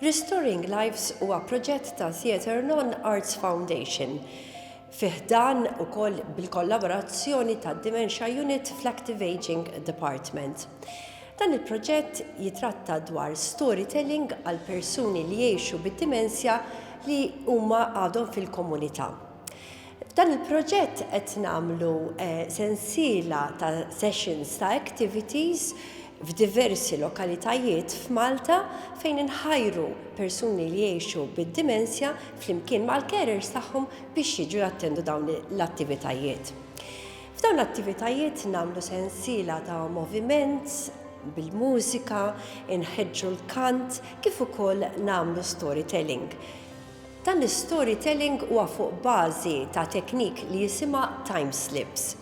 Restoring Lives huwa proġett ta' Theatre Non Arts Foundation fiħdan u koll bil-kollaborazzjoni ta' Dementia Unit fl-Active Aging Department. Dan il-proġett jitratta dwar storytelling għal persuni li jiexu bid-dimensja li huma għadhom fil-komunità. F'dan il-proġett qed nagħmlu eh, sensiela ta' sessions ta' activities f'diversi lokalitajiet f'Malta fejn inħajru persuni li jgħixu bid-dimensja flimkien mal-carers tagħhom biex jiġu jattendu dawn l-attivitajiet. F'dawn l-attivitajiet nagħmlu sensiela ta' moviment bil-mużika, inħeġġu l-kant kif ukoll nagħmlu storytelling. Dan l-istorytelling huwa fuq bażi ta' teknik li jisimha time slips.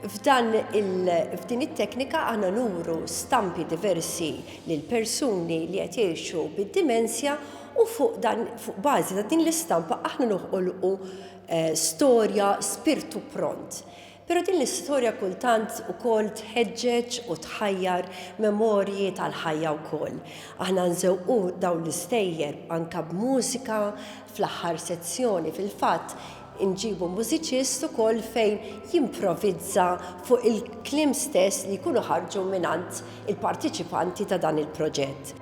F'dan il, f'din it-teknika aħna nuru stampi diversi lil persuni li qed jgħixu bid-dimensja u fuq dan, fuq bażi ta' din l-istampa aħna noħolqu storja spirtu pront. Però din l-istorja kultant ukoll tħeġġeġ u tħajjar memorji tal-ħajja wkoll. Aħna nżewqu dawn l-istejjer anke b'mużika, fl-aħħar sezzjoni fil-fatt inġibu mużiċist ukoll fejn jimprovizza fuq il-kliem stess li jkunu ħarġu mingħand il-parteċipanti ta' dan il-proġett.